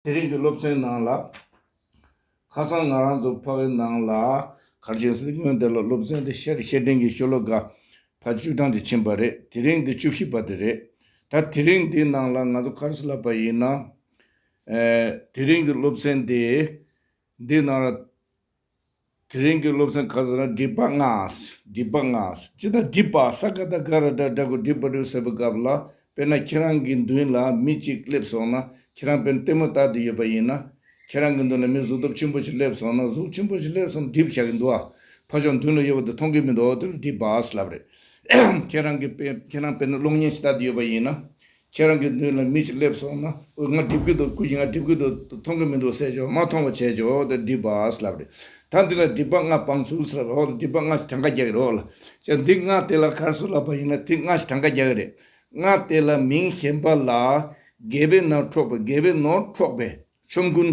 དེ་རིང་གི་སློབ་ཚན་ནང་ལ། ཁ་སང་ང་རང་ཚོ་ཕ་གི་ནང་ལ་གར་བྱོན་སུ་ཉོན་དེ་ལ་སློབ་ཚན་དེ་བཤད་བཤད་དྲིན་གྱིས་ཤོ་ལོ་ག་ཕ་བཅུ་གྲངས་དེ་ཕྱིན་པ་རེད་དེ་རིང་དེ་བཅུ་བཞི་པ་དེ་རེད། ད་དེ་རིང་འདི་ནང་ལ་ང་ཚོ་གར་སུ་ལབ་པ་ཡིན་ན། དེ་རིང་གི་སློབ་ཚན་དེ། འདི་ན་ར། དེ་རིང་གི་སློབ་ཚན་ཁ་ཟེར་ན་སྒྲིབ་པ་ལྔ། སྒྲིབ་པ་ལྔ། ཅི་ད་སྒྲིབ་པ་ས་ག་ད་ག་ར་ཏྲ་སྒྲ་གོ་སྒྲིབ་པ་སྒྲིབ་ཟེར་བའི་སྐབས་ལ་དཔེར་ན་ཁྱེད་རང་གི་མདུན་ལ་མི་གཅིག་སླེབས་སོང་ན་ཁྱེད་རང་དཔེར་ན་ལྟད་མོ་ལྟ་དུ་ཡོད་པ་ཡིན་ན། ཁྱེད་རང་གི་མདུན་ལ་མི་གཟུགས་སྟོབས་ཆེན་པོ་ཞིག་སླེབས་སོང་ན་གཟུགས་ཆེན་པོ་ཞིག་སླེབས་སོང་སྒྲིབ་བྱ་གི་འདུག་ཨ། ཕ་ཆོག་མདུན་ལ་ཡོད་པ་དེ་མཐོང་གི་མི་འདུག་དེ་ལ་སྒྲིབ་པ་ཨ་ཟེར་ལབ་རེད། ཁྱེད་རང་གི་དཔེ་ཁྱེད་རང་དཔེར་ན་གློག་བརྙན་ཞིག་ལྟ་དུ་ཡོད་པ་ཡིན་ན། ཁྱེད་རང་གི་མདུན་ལ་མི་ཞིག་སླེབས་སོང་ན། ཨོ་ང་སྒྲིབ་གི་འདུག་ཁོ་ཡིན་ང་སྒྲིབ་གི་འདུག་དེ་མཐོང་གི་མི་འདུག་ཟེར་ཆོག་མ་མཐོང་བ་བྱས་ཆོག་དེ་སྒྲིབ་པའི་ལབ་རེད། ད་འདི་ལ་སྒྲིབ་པ་ལྔ་སྤངས་ཚུལ་ཟེར་བ་འོ་སྒྲིབ་པ་ལྔ་ཞིག་གྲངས་ཀ་རྒྱག་གི་རོགས་ལ། ཅེ་འདི་ལྔ་དེ་ལ་གར་སོང་ལབ་པ་ཡིན་ན་དེ་ལྔ་ཞིག་གྲངས་ཀ་རྒྱག་གི་རེད། ལྔ་དེ་ལ་མིང་གཞན་པ་ལ། རྒས་པའི་ནང་འཕྲོག་པའི་རྒས་པའི་ནོར་འཕྲོག་པའི། ཆོམ་རྐུན།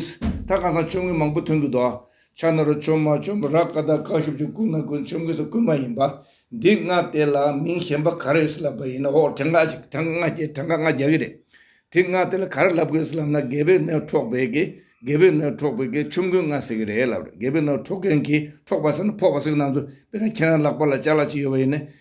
ད་གང་ཟག་ཆོམ་རྐུན་མང་པོ་ཐོན་གྱི་འདུག་ཕྱག་ན་རུ་ཆོམ་མ་ཆོམ་ར་ཀ་དག་བཀག་ཞབས་ཀྱི་རྐུན་མ་རྐུན་ཆོམ་གོས་སོགས་རྐུན་མ་ཡིན་པ་འདི་ང་དེ་ལ་མིང་གཞན་པ་ག་རེ་ཡོད་སེ་ལབ་པ་ཡིན་ན་འོག་དྲངས་ཁ་དྲངས་ང་རྒྱ་དྲངས་ཁ་ང་རྒྱ་གི་རེད་དེ་ང་དེ་ལ་ག་རེ་ལབ་གི་རེད་སེ་ལབ་ན་རྒད་པོའི་སྣོད་འཕྲོག་པའི་གི་རྒད་པོའི་སྣོད་འཕྲོག་པའི་གི་ཆོམ་རྐུན་ང་ཟེར་གི་རེད་ལབ་རེད་རྒད་པོའི་སྣོད་འཕྲོག་མཁན་གྱི་འཕྲོག་པ་ཟེར་ན་ཕོག་པ་ཟེར་གི་ནང་དུ་དཔེར་ན་ཁྱེད་རང་ལག་པ་ལ་ལྕགས་ལ་ཅིག་ཡོད་པ་ཡིན་ནས་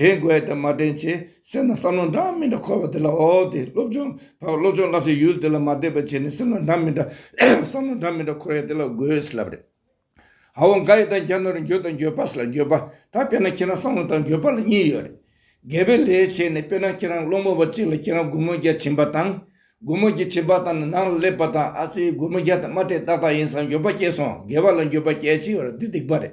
དྲན་དགོས་དེ་མ་དྲན་ཆེ་སེམས་ལ་བསམ་བློ་འདྲ་མི་འདྲ་འཁོར་བ་དེ་ལ་འོ་དེ་སློབ་སྦྱོང་བར་སློབ་སྦྱོང་བསླབ་བྱའི་ཡུལ་དེ་ལ་མ་བལྟས་པར་བྱས་ནས་སེམས་ལ་འདྲ་མི་འདྲ་བསམ་བློ་འདྲ་མི་འདྲ་འཁོར་ཡ་དེ་ལ་དགོས་ལབ་རེད། ཧ་བོ་འགའ་ཡི་དང་གྱ་ནོར་རིན་འགྱོད་དང་འགྱོད་པ་སེ་ལ་འགྱོད་པ་ད་དཔེར་ན་ཁྱེད་རང་བསམ་བློ་དང་འགྱོད་པ་ལ་གཉིས་ཡོད་རེད། འགལ་པའི་ལས་བྱས་ནས་དཔེར་ན་ཁྱེད་རང་སློང་མོ་བ་གཅིག་ལ་ཁྱེད་རང་སྒོར་མོ་བརྒྱ་བྱིན་པ་དང། སྒོར་མོ་བརྒྱ་བྱིན་པ་དང་ནང་ལ་སླེབས་པ་དང་ཨ་ཙི་སྒོར་མོ་བརྒྱ་དང་མ་སྤྲད་ཏག་ཏག་ཡིན་བསམ་འགྱོད་པ་སྐྱེས་སོང་འགལ་བ་ལ་འགྱོད་པ་སྐྱེས་ཅི་ཡོད་རེད་འདི་སྡིག་པ་རེད།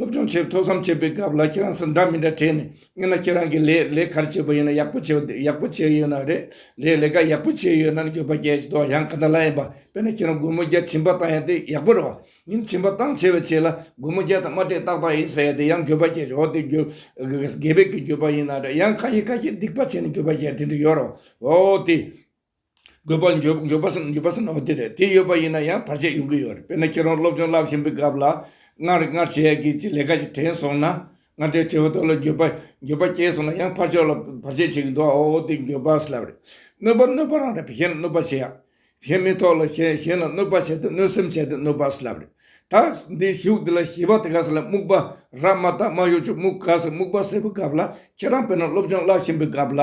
སློབ་སྦྱོང་བྱེད་ཐོག་བསམ་བྱས་པའི་སྐབས་ལ་ཁྱེད་རང་ཚོ་འདྲ་མི་འདྲ་དྲན་ནས་སྙན་ན་ཁྱེད་རང་གིས་ལས་ལས་གར་བྱས་པ་ཡིན་ན་ཡག་པོ་བྱས་ཡག་པོ་བྱས་ཡོད་ན་རེད་ལས་ལས་ཀ་ཡག་པོ་བྱས་ཡོད་ན་ནི་འགྱོད་པ་རྒྱས་ཅི་དོག་ཡང་ག་འདྲ་ལ་ཡིན་པ་དཔེར་ན་ཁྱེད་རང་སྒོར་མོ་བརྒྱ་བྱིན་པ་བཏང་ཡང་དེ་ཡག་པོ་རེད་བ་ཡིན་བྱིན་པ་བཏང་ཆེ་བས་ཆེ་ལ་སྒོར་མོ་བརྒྱ་དང་མ་སྤྲད་ཏག་ཏག་ཡིན་ཟེར་ཡང་དེ་ཡང་འགྱོད་པ་རྒྱས་ཆོག་དེ་འགྱོད་རྒས་པའི་གི་འགྱོད་པ་ཡིན་ན་རེད་ཡང་ཁ་ཤས་ཁ་ཤས་སྡིག་པ་བྱས་ནས་འགྱོད་པ་རྒྱས་དེ་འདྲ་ཡོད་རེད་བ་འོ་དེ། དགོས་པ་འགྱོད་པ་སེམས་འགྱོད་པ་སེམས་ན་བ་དེ་རེད་དེ་ཡོད་པ་ཡིན་ན་ཡང་བར་ཆད་ཡོང་གི་ཡོད་རེད་དཔེར་ན་ཁྱེད་རང་སློབ་སྦྱོང་བསླབ་བཞིན་པའི་སྐབས་ལ་སྔར་སྔར་བྱས་ཀྱི་ཅི་ལས་ཀ་ཅིག་དྲན་སོང་ན་སྔར་དྲན་དྲན་བ་དོར་ལ་འགྱོད་པ་འགྱོད་པ་སྐྱེས་སོང་ན་ཡང་ཕར་ཕྱོགས་ལ་བར་ཆད་བྱེད་ཀྱི་འདུག་ཨོ་ཨོ་དེ་འགྱོད་པ་སེལ་བ་རེད་གནོད་པ་གནོད་པ་རང་རེད་གཞན་ལ་གནོད་པ་བྱེད་ཡག་གཞན་མི་ཐོག་ལ་གཞན་གཞན་ལ་གནོད་པ་བྱས་ཏེ་གནོད་སེམས་བྱས་ཏེ་གནོད་པ་སེལ་བ་རེད་ད་འདི་བཞུགས་འདི་ལ་ཞི་བ་དེ་ག་ས་ལ་རྨུགས་པ་ར་མ་ད་མ་གཡོ་ཅོག་རྨུགས་ག་ས་རྨུགས་པ་སེལ་བའི་སྐབས་ལ་ཁྱེད་རང་དཔེར་ན་སློབ་སྦྱོང་བསླབ་བཞིན་པའི་སྐབས་ལ་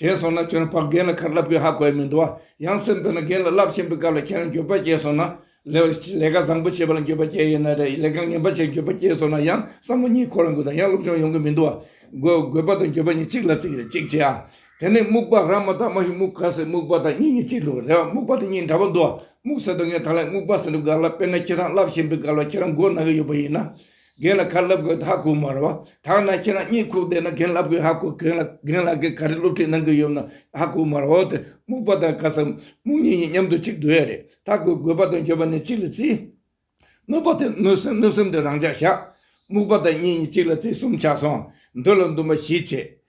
དྲན་སོང་ན་ཁྱོད་རང་ཕར་རྒན་ལ་ཁར་ལབ་གི་ཧ་གོ་ཡ་མི་འདུག་བ། ཡང་སེམས་དོད་ན་རྒན་ལ་རླབས་ཆེན་པོའི་སྐབས་ལ་ཁྱེད་རང་འགྱོད་པ་སྐྱེས་སོང་ན། ལས་ཀ་བཟང་པོ་བྱེད་པ་ལ་འགྱོད་པ་སྐྱེས་ཡོད་ན་རེད་ལས་ཀ་ངན་པ་བྱས་འགྱོད་པ་སྐྱེས་སོང་ན་ཡང་བསམ་བློ་གཉིས་འཁོར་ལ་འགོས་དང་ཡང་སློབ་སྦྱོང་ཡོང་གི་མི་འདུག་བ། དགོས་པ་དང་འགྱོད་པ་གཉིས་གཅིག་ལ་བརྩི་གི་རེད་གཅིག་བྱས་ཨ། དེ་ནས་སྨུག་པ་ར་མ་ད་མ་ཧི་སྨུག་ག་ཟེར་སྨུག་པ་དང་གཉིས་གཉིས་གཅིག་འགྲོ་གི་རེད་བ་སྨུག་པ་དང་གཉིས་འདྲ་པོ་འདུག་བ་སྨུག་ཟེར་དུ་ངས་ད་ལན་སྨུག་པ་ཟེར་འགྲོ་གི་ག་ལ་དཔེར་ན་ཁྱེད་རང་རླབས་ཆེན་པོའི་སྐབས་ལ་ཁྱེད་རང་མགོ་ན་གི་ཡོད་པ་ཡིན་ན། རྒན་ལ་ཁ་བསླབ་དགོས་ད་ཧ་གོ་མ་རེད་བ། ཐང་ན་ཁྱེད་རང་གཉིད་ཁུག་བསྡད་ན་རྒན་བསླབ་དགོས་ཧ་གོ་རྒན་རྒན་ལགས་ཀྱིས་ག་རེ་སློབ་ཁྲིད་གནང་གི་ཡོད་ན་ཧ་གོ་མ་རེད་བ་དེ་སྨུག་པ་དང་ཁ་སང་སྨུག་གཉིས་གཉིས་མཉམ་དུ་གཅིག་སྡོད་ཡ་རེད་ད་གོ་དགོས་པ་དང་འགྱོད་པ་ནི་གཅིག་ལ་རྩི། གནོད་པ་དེ་གནོད་སེམས་གནོད་སེམས་དེ་རང་ཅག་བཞག། སྨུག་པ་དང་གཉིས་གཉིས་གཅིག་ལ་རྩི་གསུམ་ཆགས་སོང་འདོད་ལ་འདུན་པ་བཞི་བྱེད།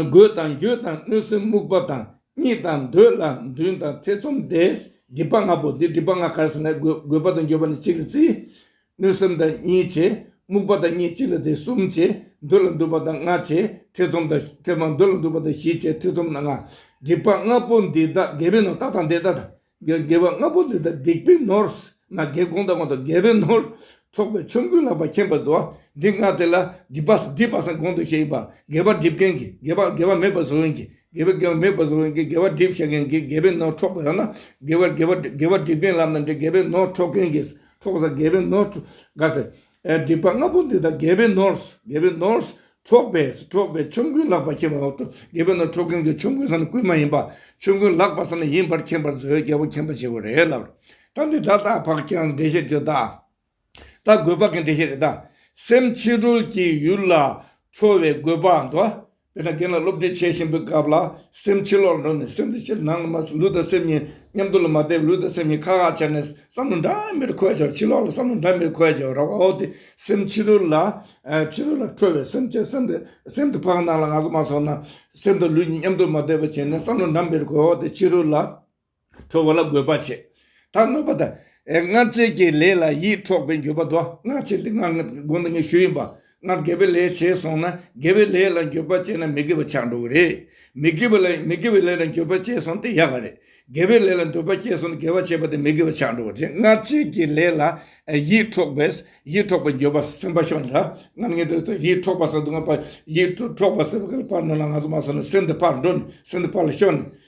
རྒོད་དང་རྒྱུད་དང་གནོད་སེམས་རྨུགས་པ་དང་གཉིད་དང་འདོད་ལ་འདུན་དང་ཐེ་ཚོམ་བདས། སྒྲིབ་པ་ལྔ་པོ་འདི་སྒྲིབ་པ་ལྔ་གར་སོང་ན་རྒོད་པ་དང་འགྱོད་པ་ནི་གཅིག་ལ་བརྩི། གནོད་སེམས་དང་གཉིས་བྱས། རྨུགས་པ་དང་གཉིས་གཅིག་ལ་བརྩི་གསུམ་བྱས། འདོད་ལ་འདུན་པ་དང་ལྔ་བྱས། ཐེ་ཚོམ་དང་ཐེ་ཚོམ་འདོད་ལ་འདུན་པ་དང་བཞི་བྱས་ཐེ་ཚོམ་དང་ལྔ། སྒྲིབ་པ་ལྔ་པོ་འདི་དག་རྒས་པའི་ནང་རྟ་དང་འདེད་རྟ་དང། དགེ་བ་ལྔ་པོ་འདི་དག་སྡིག་པའི་ནོར། ང་རྒྱལ་གོང་དང་གོང་དུ་རྒྱལ་བའི་ནོར། འཕྲོག་པའི་ཆོམ་རྐུན་ལག་པ་འཁྱེན་པར་འདོད། འདི་ལྔ་དེ་ལ་སྒྲིབ་པ་སྒྲིབ་པ་སངས་གོང་དུ་བཤད་པ། དགེ་བ་སྒྲིབ་མཁན་གྱིས་དགེ་བ་དགེ་བ་མེད་པར་བཟོ་བའི་གྱིས་དགེ་བའི་དགེ་བ་མེད་པར་བཟོ་བའི་གྱིས་དགེ་བ་སྒྲིབ་བྱེད་མཁན་གྱིས་དགེ་བའི་ནོར་འཕྲོག་པ་ཡང་ན། དགེ་བ་དགེ་བ་དགེ་བ་སྒྲིབ་མཁན་ལམ་དང་འབྲེལ་དགེ་བའི་ནོར་འཕྲོག་མཁན་གྱིས་འཕྲོག་པ་སངས་དགེ་བའི་ནོར་དགའ་ཟེར། སྒྲིབ་པ་ལྔ་པོ་འདི་དག་རྒྱལ་པོའི་ནོར། རྒྱལ་པོའི་ནོར། འཕྲོག་པས་སུ་འཕྲོག་པའི་ཆོམ་རྐུན་ལག་པ་ཁྱེར་བ། རྒྱལ་པོའི་ནོར་འཕྲོག་མཁན་གྱི་ཆོམ་རྐུན་ས་ནི་རྐུན་མ་ཡིན་པ། ཆོམ་རྐུན་ལག་པ་ས་ནི་ཡིན་པར་མཁྱེན་པར་མཛོད་རྒྱལ་པོ་མཁྱེན་པ་བྱེད་པོ་རེད་ལབ། ད་འདི་དག་དག་བག་ཀྱང་འགྲེལ་བཤད་བརྗོད་ད། ད་རྒོད་བག་གི་འགྲེལ་བཤད་རེད་ད། སེམས་ཕྱི་རོལ་གྱི་ཡུལ་ལ་འཕྲོ་བའི་རྒོད་བག་འདུ་བ། དེ་ནས་རྒན་ལགས་སློབ་ཁྲིད་བྱེད་བཞིན་པའི་སྐབས་ལ་སེམས་ཕྱི་ལོག་ལ་འགྲོ་ནས་སེམས་དེ་ཕྱིར་ནང་ལ་མ་སོང་ལུས་དང་སེམས་གཉིས་མཉམ་དུ་ལ་མ་བསྡད་པས་ལུས་དང་སེམས་གཉིས་ཁག་ཁག་བྱས་ནས་བསམ་བློ་འདྲ་མིར་འཁོད་བྱུང་ཕྱི་ལོག་ལ་བསམ་བློ་འདྲ་མིར་འཁོད་བྱུང་རོགས་པའོ་དེ་སེམས་ཕྱི་རོལ་ལ་ཕྱི་རོལ་ལ་འཕྲོས་པས་སེམས་ཕྱིར་སེམས་དེ་སེམས་དེ་ཕག་ནང་ལ་ང་སོང་མ་སོང་ན་སེམས་དང་ལུས་གཉིས་མཉམ་དུ་ལ་མ་བསྡད་པ་བྱས་ནས་བསམ་བློ་འདྲ་མིར་འཁོད་འོ་དེ་ཕྱི་རོལ་ལ། འཕྲོ་བ་ལ་དགོས་པ་བྱེད། ད་གནོད་པ་དང། སྔར་བྱས་ཀྱི་ལས་ལ་ཡིད་འཕྲོག་པའི་འགྱོད་པ་བཟློག། སྔར་བྱས་ཏེ་སྔར་དགོན་དང་ཉི་ཤུ་ཡིན་པ། སྔར་དགེ་བའི་ལས་བྱས་སོང་ན་དགེ་བའི་ལས་ལ་འགྱོད་པ་བསྐྱེད་ན་མི་དགེ་བ་ཆགས་འགྲོ་གི་རེད། མི་དགེ་བའི་ལས་མི་དགེ་བའི་ལས་ལ་འགྱོད་པ་བསྐྱེད་སོང་དེ་ཡག་ག་རེད། དགེ་བའི་ལས་ལ་འདོད་པ་བསྐྱེད་སོང་ན་དགེ་བ་བྱས་པ་དེ་མི་དགེ་བ་ཆགས་འགྲོ་གི་རེད་སྔར་བྱས་ཀྱི་ལས་ལ་ཡིད་འཕྲོག་པས་ཡིད་འཕྲོག་པའི་འགྱོད་པ་སེམས་པ་ཤོར་ན། སྔར་ངས་འདོད་ཚོད་ཡིད་འཕྲོག་པ་ཟེར་དུ་ང་ཡིད་འཕྲོག་པ་ཟེར་བ་ག་ལ་ཕར་ནོར་ལ་ང་ཚོ་མ་ཟོས་ན་སེམས་དེ་ཕར་འགྲོ་ནས་སེམས་དེ་ཕར་ལ་ཤོར་ནས།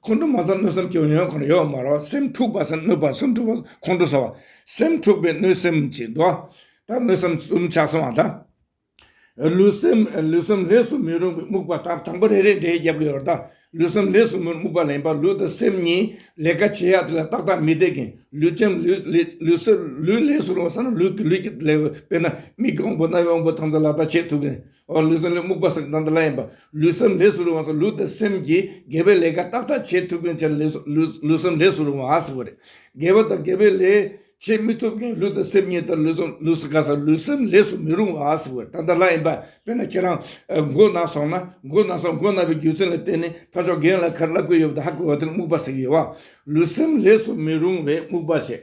ཁོང་ཁྲོ་མ་བསམ་གནོད་བསམ་སྐྱོན་ཡོན་ཁོང་ཡོད་མ་རོ་སེམས་འཁྲུགས་པ་བསམ་གནོད་པ་སེམས་འཁྲུགས་པ་ཁོང་ཁྲོ་ཟ་བ་སེམས་འཁྲུགས་པའི་གནོད་སེམས་ཀྱིས་འདུ་བ་དང་གནོད་སེམས་གསུམ་ཆགས་སོང་བ་དང། ལུས་སེམས་ལུས་གསུམ་ལས་སུ་མི་རུང་བའི་རྨུགས་པ་དང་དང་པོ་རེ་རེ་འདྲེས་རྒྱབ་ཀྱི་ཡོར་དང་ལུས་སེམས་ལས་སུ་མི་རུང་རྨུགས་པ་ལེན་པ་ལུས་དང་སེམས་གཉིས་ལས་ཀ་བྱེད་ཡག་དེ་ལ་ཏག་ཏག་མི་བདེ་གིན་ལུས་སེམས་ལུས་ལུས་ལས་སུ་རུང་བ་བསམ་ན་ལུས་ཀྱི་ལུས་ཀྱི་ལས་དཔེར་ན་མིག་གི་དབང་པོ་རྣ་བའི་དབང་པོ་དང་དུ་ལ་དག་བྱེད་ཐུབ་གིན། ལུས་སེམས་ལས་རྨུགས་པ་སེམས་དང་འདི་ལ་ཡིན་པ། ལུས་སེམས་ལས་སུ་རུང་བ་སོགས་ལུས་དང་སེམས་ཀྱིས་དགེ་བའི་ལས་ཀ་ཏག་ཏག་བྱེད་ཐུབ་མཁན་བྱས་ན་ལུས་སེམས་ལས་སུ་རུང་བ་ཟེར་བ་རེད། དགེ་བ་དང་དགེ་བའི་ལས་བྱེད་མི་ཐུབ་མཁན་ལུས་དང་སེམས་གཉིས་དང་ལུས་སེམས་ལུས་སུ་ག་ས་ལུས་སེམས་ལས་སུ་མི་རུང་བ་ཟེར་བ་དང་འདི་ལ་ཡིན་པ། དཔེར་ན་ཁྱེད་རང་མགོ་ན་སོང་ན་མགོ་ན་སོང་མགོ་ན་བའི་རྒྱུ་མཚན་ལ་བརྟེན་ནས་ད་ཆོག་རྒན་ལ་ཁར་བསླབ་ཀྱི་ཡོད་པ་དང་ཧ་གོ་བ་དེ་ལ་རྨུགས་པ་ཟེར་གྱི་ཡོད་བ། ལུས་སེམས་ལས་སུ་མི་རུང་བས་རྨུགས་པ་བྱེད།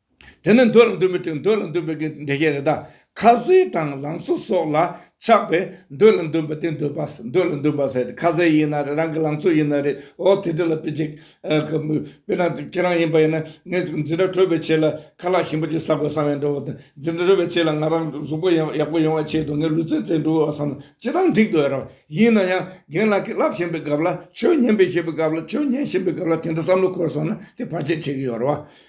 དེ་ནི་འདོད་ལ་འདོད་པའི་དོན་འདོད་ལ་འདོད་པའི་གི་འགྲེལ་བཤད་རེད་ད། ཁ་ཟས་དང་ལང་ཚོ་སོགས་ལ་ཆགས་པས་འདོད་ལ་འདོད་པ་དེ་འདོད་པ་འདོད་ལ་འདོད་པ་ཟེར་ཏེ་ཁ་ཟས་ཡིན་ན་རེད་རང་གི་ལང་ཚོ་ཡིན་ན་རེད་ཨོ་དེ་འདྲ་ལ་དཔེ་ཅིག་གི། དཔེར་ན་ཁྱེད་རང་ཡིན་པ་ཡིན་ན་ངས་འཛིན་གྲྭ་གྲོལ་བའི་ཆེད་ལ་ཁ་ལག་ཞིམ་པོ་ཅིག་ཟ་དགོས་བསམ་ཡང་འགྲོ་བ་དང་འཛིན་གྲྭ་གྲོལ་བའི་ཆེད་ལ་ང་རང་གཟུགས་པོ་ཡག་པོ་ཡོང་བའི་ཆེད་དུ་ངས་ལུས་རྩལ་རྩལ་འགྲུབ་བསམ་ན་ཅི་ལྟར་འགྲིག་འདོད་རེད། ཡིན་ན་ཡང་རྒན་ལགས་ཀྱིས་བསླབ་བཞིན་པའི་སྐབས་ལ་ཆོས་ཉན་པའི་བཞེད་པའི་སྐབས་ལ་ཆོས་ཉན་བཞིན་པའི་སྐབས་ལ་དེ་འདྲ་བསམ་བློ་འཁོར་སོང་ན་དེ་བར་ཆད་བྱེད་ཀྱི་ཡོད་རེད་བ།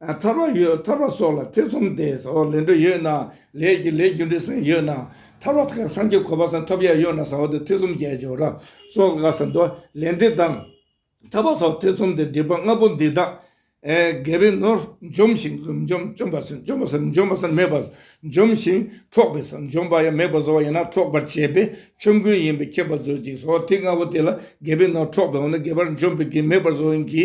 ཐར་བ་ཡོད་ཐར་བ་སོགས་ལ་ཐེ་ཚོམ་སྟེ་ཟ་བ་ལེན་འདོད་ཡོད་ན་ལས་ཀྱི་ལས་རྒྱུ་འབྲས་ཟིན་ཡོད་ན་ཐར་བ་དང་སངས་རྒྱས་གོ་བ་ཟིན་ཐོབ་ཡ་ཡོད་ན་ཟ་བ་དེ་ཐེ་ཚོམ་བརྒྱད་ཅུ་ར་སོགས་ལྔ་ཟིན་ཏོ། ལས་འདི་དང། ཐར་བ་སོགས་ཐེ་ཚོམ་སྟེ་སྒྲིབ་པ་ལྔ་པོ་འདི་དག། རྒས་པའི་ནོར་འཇོམས་ཤིང་ལུས་འཇོམས་འཇོམས་པ་ཟིན་འཇོམས་པ་ཟིན་འཇོམས་པ་ཟིན་མེད་པར་འཇོམས་ཤིང་འཕྲོག་པའི་ཟིན་འཇོམས་པ་ཡང་མེད་པར་བཟོ་བ་ཡིན་ན་འཕྲོག་པར་བྱེད་པས་ཆོམ་རྐུན་ཡིན་པས་ཁྱད་པར་མཛོད་ཅིག་ཟོ་བ་ཐིག་ལྔ་པོ་དེ་ལ་རྒས་པའི་ནོར་འཕྲོག་པའོ་ན་རྒས་པར་འཇོམས་པའི་གེགས་མེད་པར་བཟོ་ཡིན་གྱི།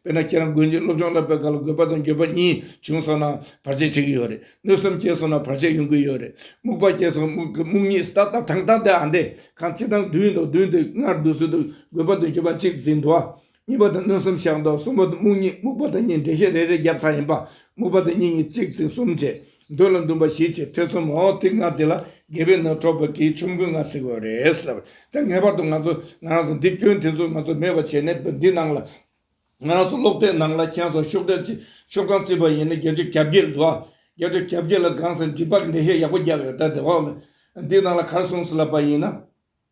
དཔེར་ན་ཁྱེད་རང་དགོན་གྱི་སློབ་སྦྱོང་བསླབ་པའི་སྐབས་ལ་དགོས་པ་དང་འགྱོད་པ་གཉིས་བྱུང་སོང་ན་བར་ཆད་བྱེད་ཀྱི་ཡོད་རེད། གནོད་སེམས་སྐྱེས་སོང་ན་བར་ཆད་ཡོང་གི་ཡོད་རེད། རྨུགས་པ་སྐྱེས་སོང་རྨུགས་གཉིས་ཏག་ཏག་དྲང་གཏམ་དེ་ཨ་འདྲས་གང་ཁྱེད་རང་བདུན་དང་བདུན་དེ་སྔར་བསྡུ་ཚུལ་དུ་དགོས་པ་དང་འགྱོད་པ་གཅིག་འཛིན་འདུག་ཨ། གཉིས་པ་དང་གནོད་སེམས་བཤགས་འདུག་གསུམ་པ་དང་རྨུགས་གཉིས་རྨུགས་པ་དང་གཉིས་འགྲེལ་བཤད་རེ་རེ་རྒྱབ་ཁག་ཡིན་པ་རྨུགས་པ་དང་གཉིས་གཉིས་གཅིག་འཛིན་གསུམ་བྱས། འདོད་ལ་འདུན་པ་བཞི་བཅས་ཐེ་ཚོམ་འོག་ཐིག་ལྔ་འདི་ལ་དགེ་བའི་སྣོད་འཕྲོག་པ་གིས་ཆོམ་རྐུན་ལྔ་བསྲེག་དགོས་རེད་ཟེར། དེ་ངེས་པར་དུ་ང་ཚོ་ང་རང་ཚོ་འདི་སྐྱོན་དེ་ཚོ་ང་ཚོ་མེད་པ་བྱས་ནས་བོད་འདི་ནང་ལ། ང་རང་ཚོ་གློག་དྲའི་ནང་ལ་ཁྱེད་ཚོ་ཤོག་དྲིལ་གྱིས་ཤོག་གྲངས་བརྩིས་པ་ཡིན་ན་རྒྱལ་སྤྱིར་གྱ་བརྒྱད་འདུག་ཨ། རྒྱལ་སྤྱིར་གྱ་བརྒྱད་ལ་སྒང་ཟེར་འདྲི་བར་འགྲེལ་བཤད་ཡག་པོ་རྒྱབ་ཡོད་ད་དེ་བ་ལ། འདི་ནང་ལ་གར་སོང་ཟེར་ལབ་པ་ཡིན་ན།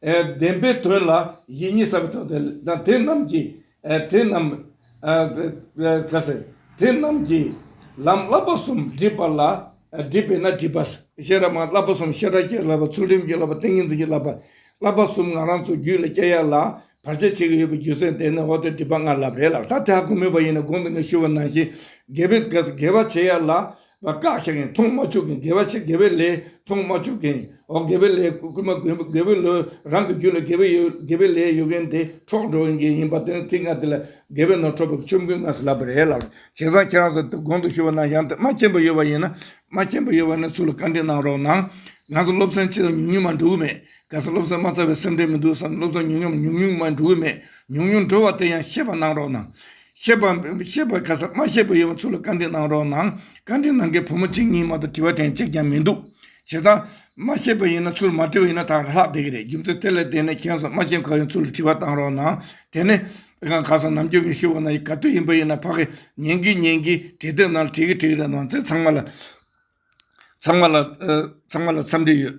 བདེན་པའི་དོན་ལ་ཡིད་གཉིས་ས་བོན་ཐོབ། དེ་རྣམས་ཀྱིས། དེ་རྣམས་ཀྱིས། ལམ་བསླབ་པ་གསུམ་བསྒྲིབས་པ་ལ། བསྒྲིབས་པས་ན་བསྒྲིབས་པ། ཤེས་རབ་མ་བསླབ་པ་གསུམ་ཤེས་རབ་ཀྱིས་བསླབ་པ་ཚུལ་ཁྲིམས་ཀྱིས་བསླབ་པ་ཏིང་ངེ་འཛིན་གྱིས་བསླབ་པ། བསླབ་པ་གསུམ་ང་རང་ཚོ་རྒྱུད་ལ་སྐྱེ་ཡ་ལ། བར་ཆད་བྱེད་ཀྱི་ཡོད་པའི་རྒྱུ་མཚན་དེ་ནི་འོག་ཏུ་བསྒྲིབས་པ་ལྔ་བསླབ་རེད་ལགས་ད་དེ་ཧ་གོ་མོས་པ་ཡིན་ན་དགོངས་འདུན་ངས་ཞུ་བ་ནང་བཞིན། དགེ་བ་བྱེད་ཡ་ལ། བ་བཀག་བྱེད་མཁན་མཐོང་མ་བཅུག་མཁན་དགེ་བ་ཆེ་དགེ་བའི་ལས་མཐོང་མ་བཅུག་མཁན་འོ་དགེ་བའི་ལས་བསྐུལ་མ་དགེ་བའི་ལོས་རང་གི་རྒྱུད་ལ་དགེ་བའི་དགེ་བའི་ལས་ཡོད་མཁན་དེ་འཕྲོག་འགྲོ་ཡིན་མཁན་ཡིན་པ་དེ་ནི་ཐིག་ལྔ་དེ་ལ་དགེ་བའི་ནོར་འཕྲོག་པའི་ཆོམ་རྐུན་ངང་སུ་ལབ་པ་རེད་ལབ་བྱས་ཙང་ཁྱེད་རང་ཚོ་དེ་དགོངས་དུ་ཞུ་བ་ན་ཡང་དེ་མ་མཁྱེན་པ་ཡོད་པ་ཡིན་ན་མ་མཁྱེན་པ་ཡོད་པ་ནི་སུ་ལ་བཀའ་འདྲི་གནང་རོགས་གནང། ང་ཚོ་སློབ་ཚན་ཆེ་ཙམ་ཉུང་ཉུང་མ་འགྲོ་གི་མེད། གལ་སྲིད་སློབ་ཚན་མ་ཚར་བའི་སེམས་ཁྲལ་མི་འདུག་བསམ་ན་སློབ་ཚན་ཉུང་ཉམས་ཉུང་ཉུང་མ་འགྲོ་གི་མེད། ཉུང་ཉུང་འགྲོ་བ་དེ་ཡང་ཤེས་པ་གནང་རོགས་གནང། ཤེས་པའམ་བོན་པོ་ཤེས་པ་ག་ས་མ་ཤེས་པ་ཡོང་བ་ཚུར་ལ་བཀའ་འདྲི་གནང་རོགས་གནང། བཀའ་འདྲི་གནང་མཁན་བུ་མོ་གཅིག་གཉིས་མ་གཏོགས་དྲི་བ་དྲན་གཅིག་ཀྱང་མི་འདུག་བྱས་ཙང། མ་ཤེས་པ་ཡིན་ན་ཚུར་མ་དྲི་བ་ཡིན་ན་ད་ལྷག་བསྡད་ཀྱི་རེད་རྒྱུ་མཚན་དེ་ལས་བསྡད་ན་མཁྱེན་སོང་མ་མཁྱེན་གང་ཡོང་ཚུར་ལ་དྲི་བ་གཏང་རོགས་གནང། དེ་ནས། དཔེ་ཁང་ག་ས་ནམ་རྒྱུན་མི་ཤི་བ་ན་ཡི་ག་དུས་ཡིན་པ་ཡིན་ན་ཕ་གི་ཉན་གི་ཉན་གི་དྲི་དེ་ན་ལ་དྲི་གི་དྲི་གི་རེད་གནང་ཚེ་ཚང་མ་ལ། ཚང་མ་ལ་འཚམས་འདྲི་ཡོད།